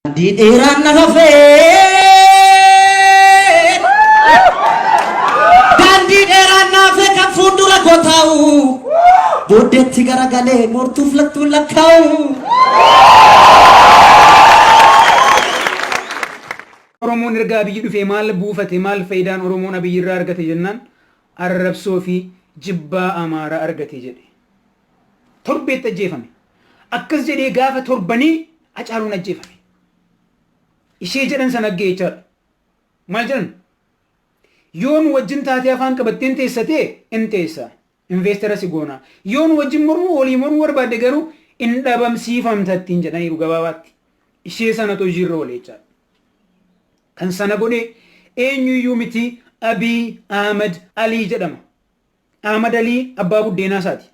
Daandii dheeraan na hafe. Daandii dheeraan na hafe kan fuuldura koo taa'u. Booddeetti garagalee mortuuf lattuun lakkaa'u. Oromoon erga Abiyyi dhufee maal buufate maal fayidaan Oromoon Abiyyi irraa argate jennaan arrabsoo fi jibbaa Amaaraa argate jedhe. Torbeetti ajjeefame. Akkas jedhee gaafa torbanii Hacaaluun ajjeefame. Ishee jedhan sana aggee jechaadha. Maal jedhan? Yoo nu wajjin taatee afaan qabatteen teessa ta'e in teessa. Investara si goona. Yoo nu wajjin mormuu olii mormuu barbaadde garuu in dhabamsiifamta ittiin jedhaniiru gabaabaatti. Ishee sanatu hojiirra oole jechaadha. Kan sana godhe eenyuyyuu miti Abiy Ahmed Alii jedhama. Ahmad Alii abbaa buddeenaa isaati.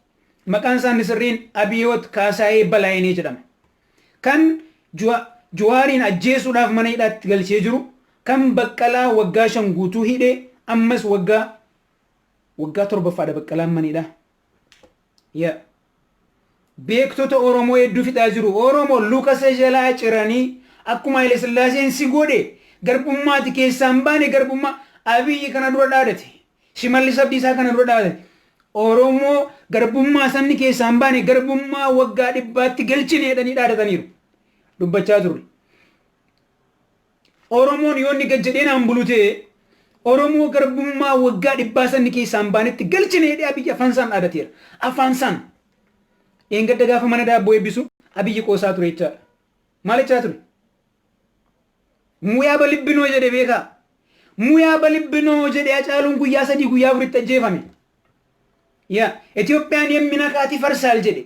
Maqaan isaa inni sirriin Abiyoot Kaasaayee Balaayinee jedhama. Kan Juwaariin ajjeesuudhaaf mana hidhaatti galchee jiru, kan Baqqalaa waggaa shan guutuu hidhe, ammas waggaa waggaa torbaffaadha Baqqalaan mana hidhaa. Yeah. Beektota Oromoo hedduu fixaa jiru. Oromo luka isa jalaa ciranii akkuma Haile Sillaaseen si godhe garbummaati keessaa hin baane garbummaa Abiyyi kana dura dhaadate. Shimallis Abdiisaa kana dura dhaadate. Oromoo garbummaa sanni keessaa hin baane garbummaa waggaa dhibbaatti galchine jedhanii dhaadataniiru. Dubbachaa turre. Oromoon yoo inni gad jedhee naan bulu ta'e, Oromoo garbummaa waggaa dhibbaa san keessaa hin baanetti galchina jedhee Abiyyi afaansaan dhaadateera. Afaansaan! Dheengadda gaafa mana daabboo eebbisu Abiyyi qoosaa ture jechaadha. Maal jechaa ture? Muyaa balibbinoo jedhe beekaa? Muyaa balibbinoo jedhe Hacaaluun guyyaa sadii guyyaa afuritti ajjeefame. Yaa Itoophiyaan yemmi nakaati farsaal jedhe.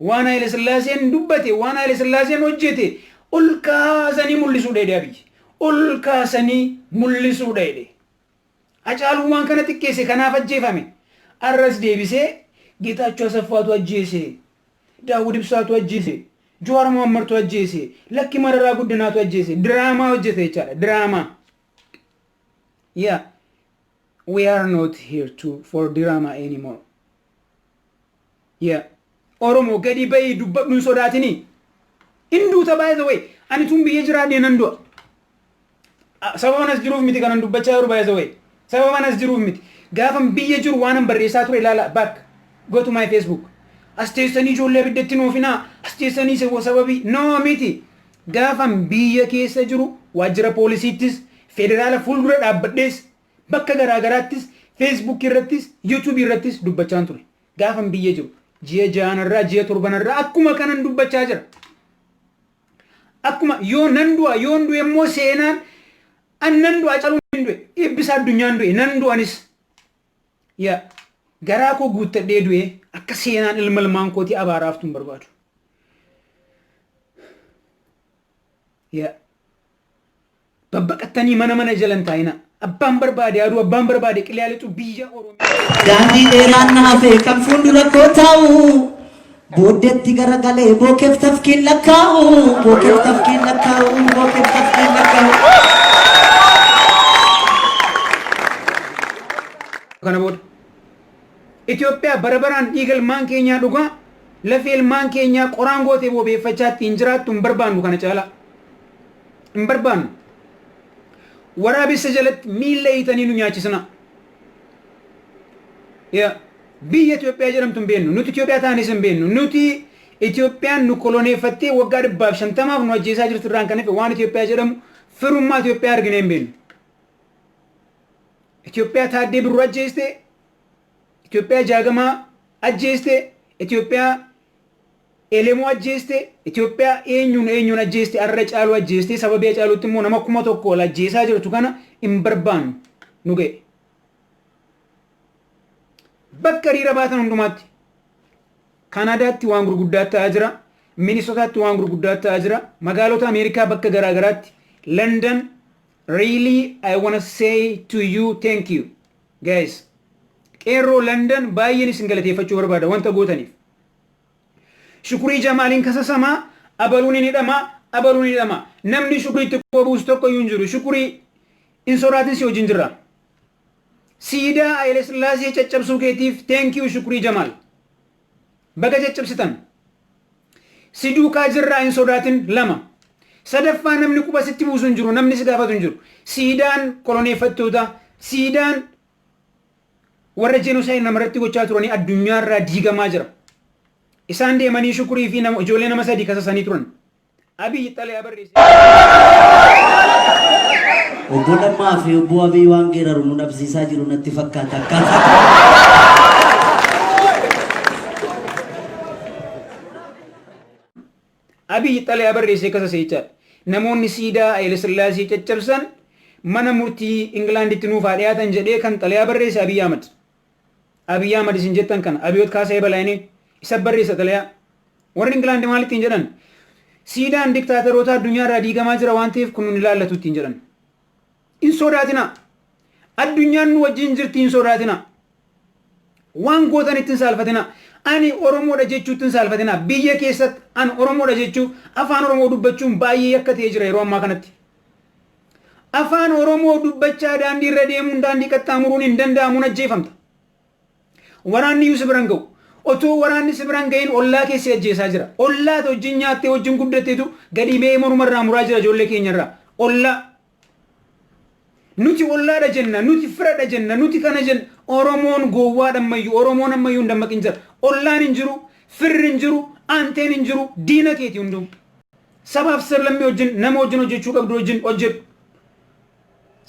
Waan Haayile Sillaaseen dubbate, waan Haayile Sillaaseen hojjete ol kaasanii mul'isuudha jedhe Abiyyi. Ol kaasanii mul'isuudha jedhe. Hacaaluun waan kana xiqqeesse kanaaf ajjeefame. Arras deebisee Geetaachoo Asaffaatu ajjeese, Daawud Ibsaatu ajjeese, Jawaar Mohammartu ajjeese, lakki Mararaa Guddinaatu ajjeese. Diraamaa hojjete jechaadha. Diraamaa. Yeah. We are not here to for drama anymore. Yaa Oromoo gadii bayii dubbadhu hin sodaatini. In duuta by the way. Ani tun biyya jiraadhee nan du'a. Ah, Sababan as jiruuf miti kanan dubbachaa jiru by the way. Sababan as jiruuf miti. Gaafan biyya jiru waanan barreessaa ture ilaala back. Go to my Facebook. As teessanii ijoollee abiddatti hin oofinaa. As teessanii se- sababii no miti. Gaafan biyya keessa jiru waajjira poolisiittis federaala fuuldura dhaabbadhees bakka garaa garaattis Facebook irrattis YouTube irrattis dubbachaan ture. Gaafan biyya jiru ji'a jaanarraa ji'a torbanarraa akkuma kanan dubbachaa jira. Akkuma yoo nan du'a yoon du'e immoo seenaan an nan du'a caluun hin du'e ibbisa addunyaan du'e nan du'anis yaa garaa koo guuttadhee du'e akka seenaan ilma ilmaan kootii abaaraaftu hin barbaadu. Yaa Babbaqattanii mana mana jala hin taa'inaa. Abbaan barbaade haa du'u, abbaan barbaade qilee haa lixu, biyya Oromiyaa. Daandii dheeraan na hafee kan fuuldura koo taa'u. Booddeetti garagalee bookeef tafkiin lakkaa'u. Bookeef tafkiin lakkaa'u. Bookeef tafkiin lakkaa'u. Kana booda Itoophiyaa bara baraan dhiiga ilmaan keenyaa dhugaa lafee ilmaan keenyaa qoraan gootee boobeeffachaa ittiin jiraattu hin barbaannu kana caalaa. hin barbaannu. Waraabessa jalatti miilla hiitanii nu nyaachisinaa. Yaa, Biyya Itoophiyaa jedhamtu hin beennu. Nuti Itoophiyaa taanis hin beennu. Nuti Itoophiyaan nu koloneeffattee waggaa dhibbaaf shantamaaf nu ajjeesaa jirtu irraan kan hafe waan Itoophiyaa jedhamu firummaa Itoophiyaa arginee hin beennu. Itoophiyaa taaddee birruu ajjeeste, Itoophiyaa jaagamaa ajjeeste, Itoophiyaa Elemoo ajjeeste, Itoophiyaa eenyuun eenyuun ajjeeste arra Caaluu ajjeeste sababii Hacaaluutti immoo nama kuma tokko ol ajjeesaa jirtu kana hin barbaannu nu ga'e. Bakka hiriira baatan hundumaatti Kanaadaatti waan gurguddaa ta'aa jira. Minisotaatti waan gurguddaa ta'aa jira. Magaalota Ameerikaa bakka garaa garaatti London really I wanna say to you thank you guys. Qeerroo London baay'een isin galateeffachuu barbaada wanta gootaniif. Shukurii Jamaaliin kasasamaa abaluun hin hidhamaa abaluun hin hidhamaa namni shukurii itti quba buusu tokko iyyuu hin jiru shukurii hin sodaatin si wajjin jirra. Siidaa Haile Sillaasee caccabsuu keetiif thank you shukurii Jamaal. Baga caccabsitan. Si duukaa jirraa hin sodaatin lama. Sadaffaa namni quba sitti buusu hin jiru namni si gaafatu hin jiru. Siidaan koloneeffattoota siidaan warra jenosaayid namarratti gochaa turanii addunyaarraa diigamaa jira. Isaan deemanii shukurii fi nama ijoollee nama sadii kasasanii turan. Abiyyi xalayaa barreesse. Obbo Lammaa fi Obbo Abiy waan geeraru nu dhabsiisaa jiru natti fakkaata akkaataa. Abiy xalayaa barreesse akka saseechaadha. Namoonni siidaa Hayilasillaasee caccabsan mana murtii Ingilaanditti nuuf haa dhiyaatan jedhee kan xalayaa barreesse Abiy Ahmad. Abiy Ahmad isin jettan kana Abiyoot Kaasaayee Balaayinee isa barreessa xalayaa. Warri Ingilaandi maal ittiin jedhan? Siidaan diktaatarootaa addunyaa irraa diigamaa jira waan ta'eef kun nun ilaallatu ittiin jedhan. Hin sodaatinaa. Addunyaan nu wajjin jirti hin sodaatinaa. Waan gootanitti hin saalfatinaa. Ani Oromoodha jechuutti hin saalfatinaa. Biyya keessatti ani Oromoodha jechuu afaan Oromoo dubbachuun baay'ee yakka ta'ee jira yeroo ammaa kanatti. Afaan Oromoo dubbachaa daandii irra deemuun daandii qaxxaamuruun hin danda'amuun ajjeefamta. Waraanni iyyuu si biraan ga'u. Otoo waraanni si biraan ga'in ollaa keessi ajjeesaa jira. Ollaati wajjin nyaattee wajjin guddatteetu gadi ba'ee morma irraa muraa jira ijoollee keenya irraa. Ollaa Nuti ollaadha jenna, nuti firadha jenna, nuti kana jenna. Oromoon gowwaadha ammayyu. Oromoon ammayyu hin dammaqin jira. Ollaan hin jiru, firri hin jiru, aanteen hin jiru, diina keeti hunduu. Sabaaf sablammii wajjin, nama wajjin hojjechuu qabdu wajjin hojjedhu.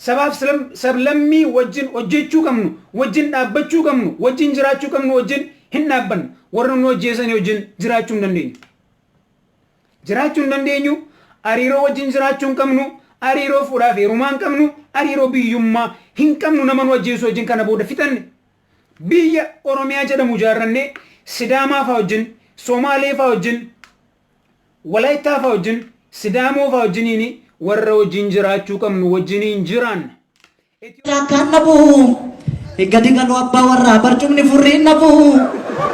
Sabaaf sablammii wajjin hojjechuu qabnu, wajjin dhaabbachuu qabnu, wajjin jiraachuu qabnu wajjin hin dhaabbannu. Warra nu ajjeesanii wajjin jiraachuu hin dandeenyu. jiraachuu hin dandeenyu, hariiroo wajjin jiraachuu hin qabnu, hariiroo fuudhaa fi heerumaa hin qabnu, hariiroo biyyummaa hin qabnu nama nu ajjeesu wajjin kana booda fixanne. Biyya Oromiyaa jedhamu ijaarrannee Sidaamaa faa wajjin, Somaalee faa wajjin, Walaayittaa faa wajjin, Sidaamoo faa wajjiniin warra wajjin jiraachuu qabnu wajjiniin jiraanna. Ethiopian akkaan dhabu Higgadi galoo abbaa warraa barcumni furriin dhabu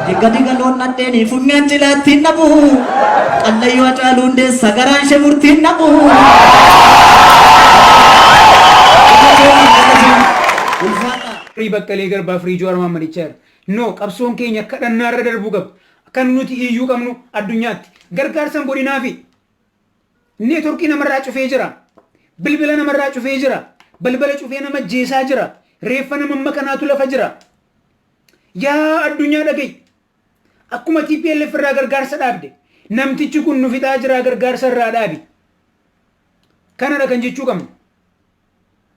Higgadi galoon nadheeni funyaan cilaattiin dhabu Qallayyoo Hacaaluu Hundeessa garaan ishee murtiin dhabu Ulfaadha. Firii Baqqalee Garbaa Firii Jowaar Maammadichaa irra. No qabsoon keenya kadhannaa irra darbuu qabdi. Kan nuti iyyuu qabnu addunyaatti. Gargaarsan godhinaafi. Neetworkii namarraa cufee jira. Bilbila namarraa cufee jira. Balbala cufee nama ajjeesaa jira. Reeffa nama amma kanaatu lafa jira. Yaa addunyaa dhagayi. Akkuma TPLF irraa gargaarsa dhaabde. Namtichi kun nu fixaa jira gargaarsa irraa dhaabi. Kanadha kan jechuu qabnu.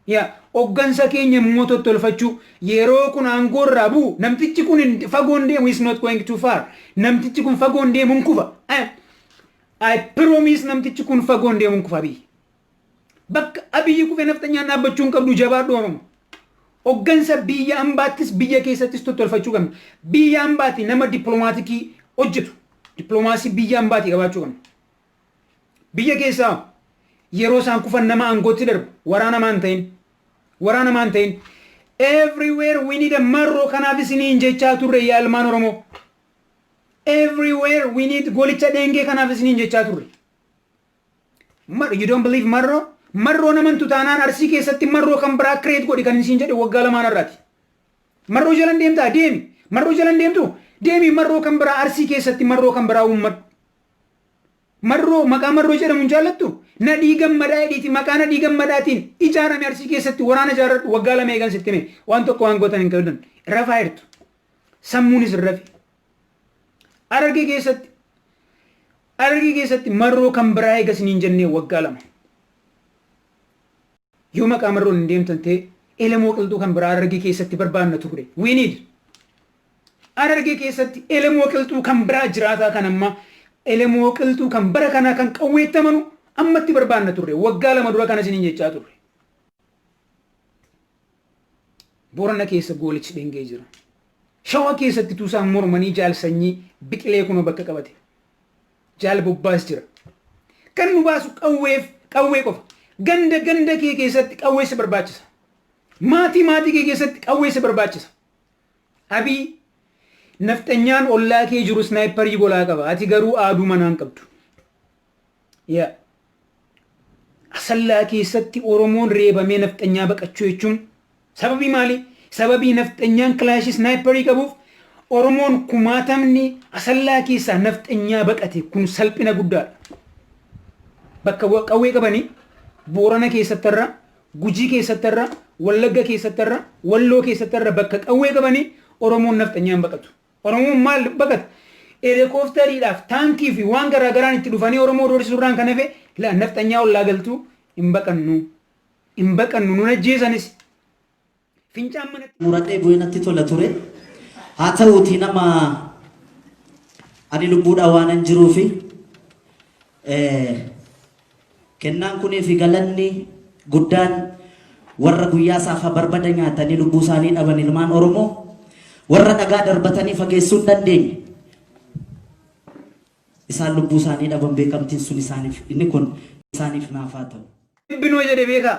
Yaa oggansa keenya immoo tottolfachuu yeroo kun aangoo irraa bu'u namtichi kun hin- fagoo hin deemu is not going too far namtichi kun fagoo hin deemu hin kufa I, I promise namtichi kun fagoo hin deemu hin kufa biyyi bakka abiyyi kufee nafxanyaan dhaabbachuu hin qabdu jabaadhu oromo oggansa biyya ambaattis biyya keessattis tottolfachuu qabna biyya ambaati nama diplomaatikii hojjetu diploomaasii biyya ambaati qabaachuu qabna Biyya keessaa yeroo isaan kufan nama aangootti darbu waraana maan ta'in waraana maan ta'in everywhere we need a marroo kanaaf isiniin jechaa turre yaa ilmaan oromoo everywhere we need golicha dheengee kanaaf isiniin jechaa turre Mar- you don't believe marroo marroo naman tutaanaan arsii keessatti marroo kan biraa kireet godhi kan isiin jedhe waggaa lamaan irraati marroo jalan deemtaa deemi marroo jalan deemtu deemi marroo kan biraa arsii keessatti marroo kan biraa uummadhu Marroo maqaa Marroo jedhamu hin jaallattu? Nadhii Gammadaa jedhiiti maqaa Nadhii Gammadaatiin ijaarame Arsii keessatti waraana ijaarradhu waggaa lama eegan sitti hime waan tokko waan gootan hin qabdan rafaa jirtu sammuun isin rafe Harargee keessatti Harargee keessatti Marroo kan biraa eega isiniin jennee waggaa lama yoo maqaa Marroon hin deemtan ta'e elemoo qilxuu kan biraa Harargee keessatti barbaanna turre we need Harargee keessatti Elemoo Qilxuu kan biraa jiraataa kan ammaa Elemoo Qilxuu kan bara kanaa kan qawweetti amanu ammatti barbaanna turre. Waggaa lama dura kana isiniin jechaa turre. Boorana keessa goolichi dhengee jira. Shawaa keessatti tuusaan mormanii jaal sanyii biqilee kunoo bakka qabate. Jaal bobbaas jira. Kan nu baasu qawweef qawwee qofa. Ganda ganda kee keessatti qawweessa barbaachisa. Maatii maatii kee keessatti qawweessa barbaachisa. Abiy nafxanyaan ollaa kee jiru snaayipparii golaa qaba ati garuu aaduu manaa hin qabdu. Ya. Asallaa keessatti Oromoon reebamee nafxanyaa baqachuu jechuun sababii maalii? Sababii nafxanyaan kilaashii snaayipparii qabuuf Oromoon kumaatamni Asallaa keessaa nafxanyaa baqate kun salphina guddaadha. Bakka qawwee qabanii Boorana keessatti irra Gujii keessatti har'a, Wallagga keessatti har'a, Walloo keessatti har'a bakka qawwee qabanii Oromoon nafxanyaa hin baqatu. Oromoon maal baqata? Elekoofteriidhaaf, taankii fi waan garaa garaan itti dhufanii Oromoo doorsisuu irraan kan hafe la nafxanyaa ollaa galtuu hin baqannu. Hin baqannu nun ajjeesanis. Fincaan manatti muradhee bu'ee natti tola ture. Haa ta'uutii nama ani lubbuudhaan waanan jiruufi kennaan kunii fi galanni guddaan warra guyyaa saafaa barbada nyaatanii lubbuu isaanii dhaban ilmaan Oromoo warra dhagaa darbatanii fageessuu hin dandeenye. Isaan lubbuu isaanii dhaban beekamtiin sun isaaniif inni kun isaaniif naafaa ta'u. Ebbinoo jedhe beekaa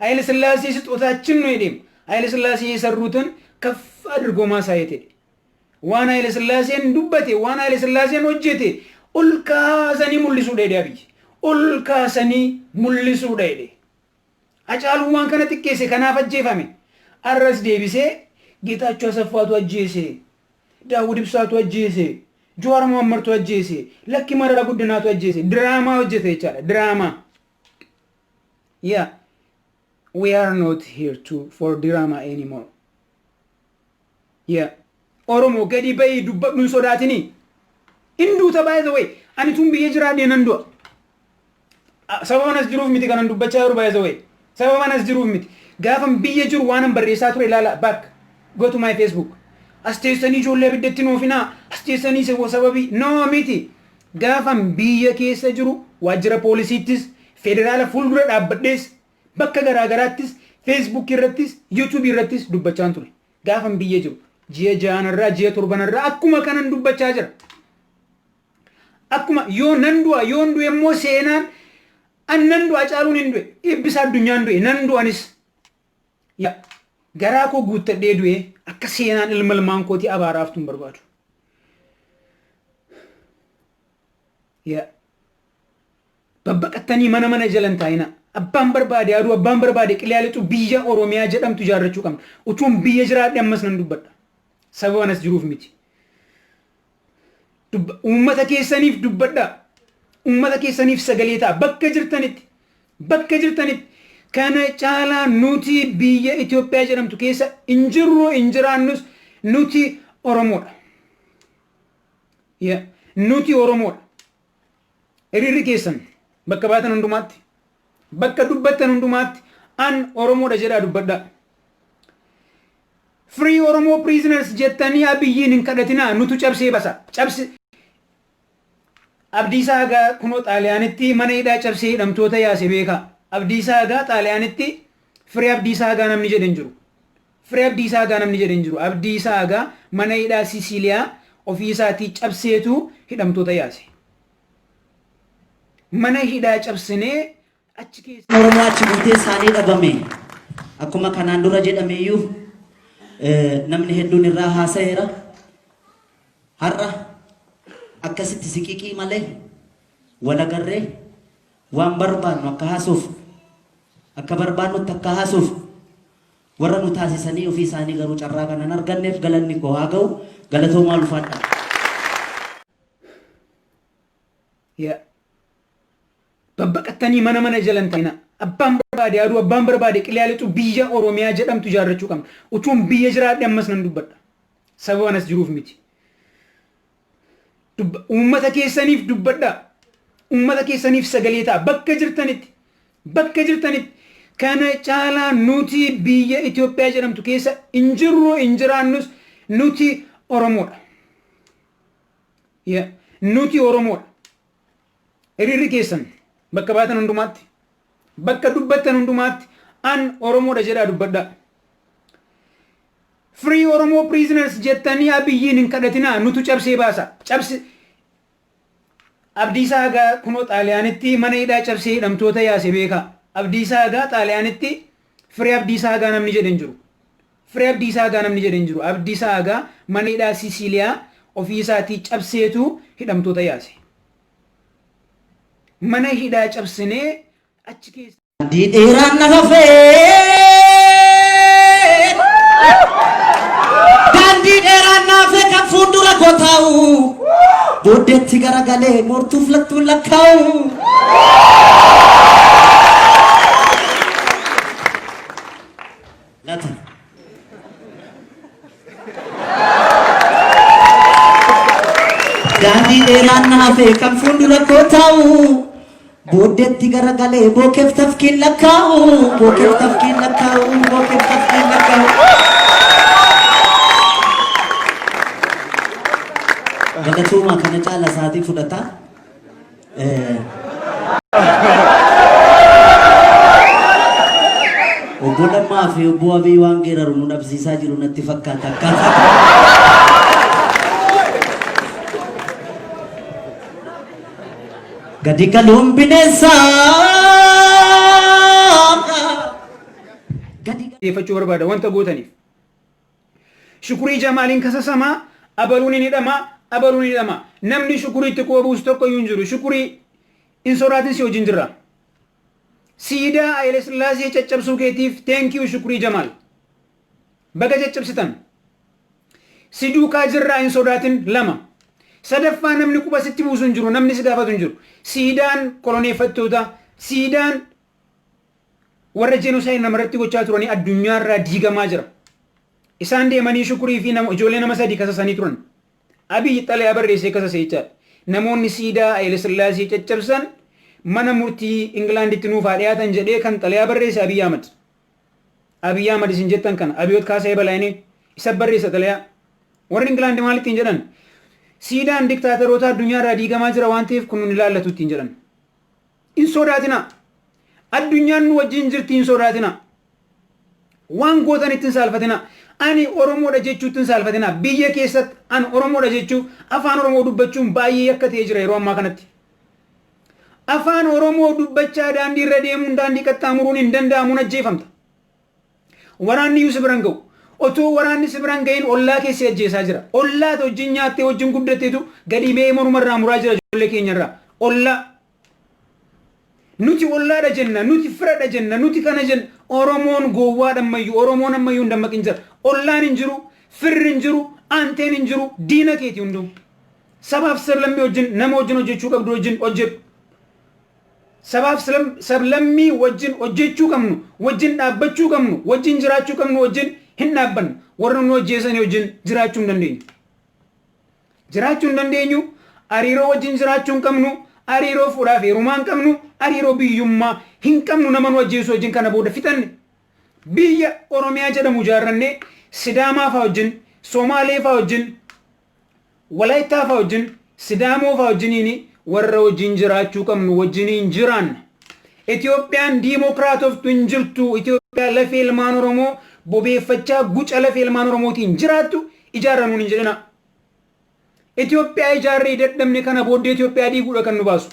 Hayile Sillaasee sixootaachin nu hidheem. Hayile Sillaasee yesan Ruuton kaf adirgoomaa saa yetedhe. Waan Hayile Sillaaseen dubbate, waan Hayile Sillaaseen hojjete ol kaasanii mullisuudha jedhe Abiy. Ol kaasanii mullisuudha jedhe. Hacaaluun waan kana xiqqeesse kanaaf ajjeefame. Arras deebisee Geetaachoo Asaffaatu ajjeese, Daawud Ibsaatu ajjeese, Jawaar Mohammadtu ajjeese, Lakki Marara Guddinaatu ajjeese. Diraamaa hojjete jechaadha. Diraamaa. Yeah, we are not here to for drama anymore. Yeah. Oromoo gadi bahii dubbadhu hin sodaatini. Hin duuta by the way. Ani tun biyya jiraadhee nan du'a. Ah, Sababan as jiruuf miti kanan dubbachaa jiru by the way. Sababan as jiruuf miti. Gaafan biyya jiru waanan barreessaa ture ilaala back. Go to my Facebook. As teessanii ijoollee abiddatti hin oofinaa. As teessanii sabo sababii. No miti. Gaafan biyya keessa jiru waajjira poolisiittis, federaala fuuldura dhaabbadhees, bakka garaa garaattis, Facebook irrattis, YouTube irrattis dubbachaan ture. Gaafan biyya jiru ji'a ja'anarraa, ji'a torbanarraa akkuma kanan dubbachaa jira. Akkuma yoo nan du'a, yoon du'e immoo seenaan an nan du'a Hacaaluun hin du'e, Eebbisaa Addunyaan du'e, nan du'a anis. Yaa garaa koo guuttadhee du'ee akka seenaan ilma ilmaan kootii abaaraa haftu hin barbaadu. Yaa babbaqattanii mana mana jala hin taa'inaa. Abbaan barbaade aduu abbaan barbaade qiliyaa lixu biyya Oromiyaa jedhamtu ijaarrachuu qabna. Utuun biyya jiraadhe ammas nan dubbadha. Sababa anas jiruuf miti. Dubba- Uummata keessaniif dubbadhaa. Uummata keessaniif sagalee ta'a. Bakka jirtanitti. Bakka jirtanitti. Kana caalaa nuti biyya Itoophiyaa jedhamtu keessa hin jirru hin jiraannus nuti Oromoodha. Yeah. Nuti Oromoodha. Hiriirri keessan bakka baatan hundumaatti. Bakka dubbattan hundumaatti an Oromoodha jedhaa dubbadhaa. Free Oromo prisoners jettanii Abiyyiin hin kadhatinaa nutu cabsee basa. Cabse Abdiisaa Agaa kunoo Xaaliyaanitti mana hidhaa cabsee hidhamtoota yaase beekaa. Abdiisaa Agaa Xaaliyaanitti Free Abdiisaa Agaa namni jedhe hin jiru. Free Abdiisaa Agaa namni jedhe hin jiru. Abdiisaa Agaa mana hidhaa Sisiiliyaa ofii isaatii cabseetu hidhamtoota yaase. Mana hidhaa cabsinee Achi keessaa Oromoo achi buutee isaanii dhabame. Akkuma kanaan dura jedhame iyyuu namni hedduun irraa haasa'eera. Har'a akkasitti siqiqii malee wal agarree waan barbaannu akka haasuuf akka barbaannutti akka haasuuf warra nu taasisanii ofii isaanii garuu carraa kanan arganneef galanni koo haa ga'u galatoomaa ulfaadha. Babbaqattanii mana mana jala hin ta'inaa. Abbaan barbaade haa du'u, abbaan barbaade qilee haa lixu, biyya Oromiyaa jedhamtu ijaarrachuu qabna. Utuun biyya jiraadhe ammas nan dubbadha. Sababan as jiruuf miti. Dubba- Uummata keessaniif dubbadhaa. Uummata keessaniif sagalee ta'a. Bakka jirtanitti, bakka jirtanitti kana caalaa nuti biyya Itoophiyaa jedhamtu keessa hin jirru, hin jiraannus nuti Oromoodha. Yeah. Nuti Oromoodha. Hiriirri keessan bakka baatan hundumaatti, bakka dubbattan hundumaatti an Oromoodha jedhaa dubbadhaa. Free Oromoo prisoners jettanii Abiyyiin hin kadhatinaa nutu cabsee baasa. Cabsi Abdiisaa Hagaa kunoo Xaaliyaanitti mana hidhaa cabsee hidhamtoota yaase beekaa. Abdiisaa Hagaa Xaaliyaanitti Free Abdiisaa Hagaa namni jedhe hin jiru. Free Abdiisaa Agaa namni jedhe hin jiru. Abdiisaa Agaa mana hidhaa Siisiiliyaa ofii isaatii cabseetu hidhamtoota yaase. Mana hidhaa cabsinee achi keessa. Daandii dheeraan na hafe Daandii dheeraan na hafe kan fuuldura koo taa'u Booddeetti garagalee moortuuf lattuun lakkaa'u Nati. Daandii dheeraan na hafe kan fuuldura koo taa'u. Booddeetti garagalee bookeef tafkiin lakkaa'u. Bookeef tafkiin lakkaa'u. Bookeef tafkiin lakkaa'u. Galatooma kana caala isaatii fudhata. Obbo Lammaa fi Obbo Abiy waan geeraru nu dhabsiisaa jiru natti fakkaata akkaataa. Gadi galuun bineensaa. Gadi galuun. dhiyeeffachuu barbaada wanta gootaniif. Shukurii Jamaaliin kasasamaa abaluu nin hidhamaa abaluu nin hidhamaa namni shukurii itti quba buusu tokko iyyuu hin jiru shukurii hin sodaatin si wajjin jirra. Siidaa Hayile Sillaasee caccabsuu keetiif thank you shukurii Jamaal. Baga caccabsitan. Si duukaa jirraa hin sodaatin lama. Sadaffaa namni quba sitti buusu hin jiru namni si gaafatu hin jiru. Siidaan koloneeffattoota siidaan warra jenosaayid namarratti gochaa turanii addunyaarraa diigamaa jira. Isaan deemanii shukurii fi nama, ijoollee nama sadii kasasanii turan. Abiy xalayaa barreessee kasase jechaadha. Namoonni siidaa Haile Sillaasee caccabsan mana murtii Ingilaanditti nuuf haa dhiyaatan jedhee kan xalayaa barreesse Abiy Ahmad. Abiy Ahmad isin jettan kana Abiyoot Kaasayee Balaayinee isa barreessa xalayaa. Warri Ingilaandi maal ittiin jedhan? Siidaan diktaateroota addunyaarraa diigamaa jira waan ta'eef kun nun ilaallatu ittiin jedhan. Hin sodaatinaa. Addunyaan nu wajjin jirti hin sodaatinaa. Waan gootanitti hin saalfatinaa. Ani Oromoodha jechuutti hin saalfatinaa. Biyya keessatti ani Oromoodha jechuu afaan Oromoo dubbachuun baay'ee yakka ta'ee jira yeroo ammaa kanatti. Afaan Oromoo dubbachaa daandii irra deemuun daandii qaxxaamuruun hin danda'amu hin ajjeefamta. Waraanni iyyuu si bira hin ga'u. Otoo waraanni si bira hin ga'iin ollaa kee si ajjeesaa jira. Ollaa ati wajjin nyaattee wajjin guddattetu gadi ba'ee morma irraa muraa jira ijoollee keenya irraa. Ollaa. Nuti ollaadha jenna, nuti firadha jenna, nuti kana jenna. Oromoon gowwaadha ammayyu, Oromoon ammayyu hin dammaqin jira. Ollaan hin jiru, firri hin jiru, aanteen hin jiru, diina keeti hunduu. Sabaaf sablammii wajjin, nama wajjin hojjechuu qabdu wajjin hojjedhu. Sabaaf sablammii wajjin hojjechuu qabnu, wajjin dhaabbachuu qabnu, wajjin jiraachuu qabnu wajjin hin dhaabbannu. Warra nu ajjeesanii wajjin jiraachuu hin dandeenyu. Jiraachuu hin dandeenyu, hariiroo wajjin jiraachuu hin qabnu, hariiroo fuudhaaf heerumaa hin qabnu, hariiroo biyyummaa hin qabnu nama nu ajjeesu wajjin kana booda fixanne. Biyya Oromiyaa jedhamu ijaarrannee Sidaamaa faa wajjin, Somaalee faa wajjin, Walaayittaa faa wajjin, Sidaamoo faa wajjiniin warra wajjin jiraachuu qabnu wajjiniin jiraanna. Itoophiyaan diimookiraatoftu hin jirtu. Itoophiyaa lafee ilmaan Oromoo bobeeffachaa guca lafee ilmaan Oromootiin jiraattu ijaarra nuun hin jedhinaa. Itoophiyaa ijaarree dadhabne kana booddee Itoophiyaa diiguudha kan nu baasu.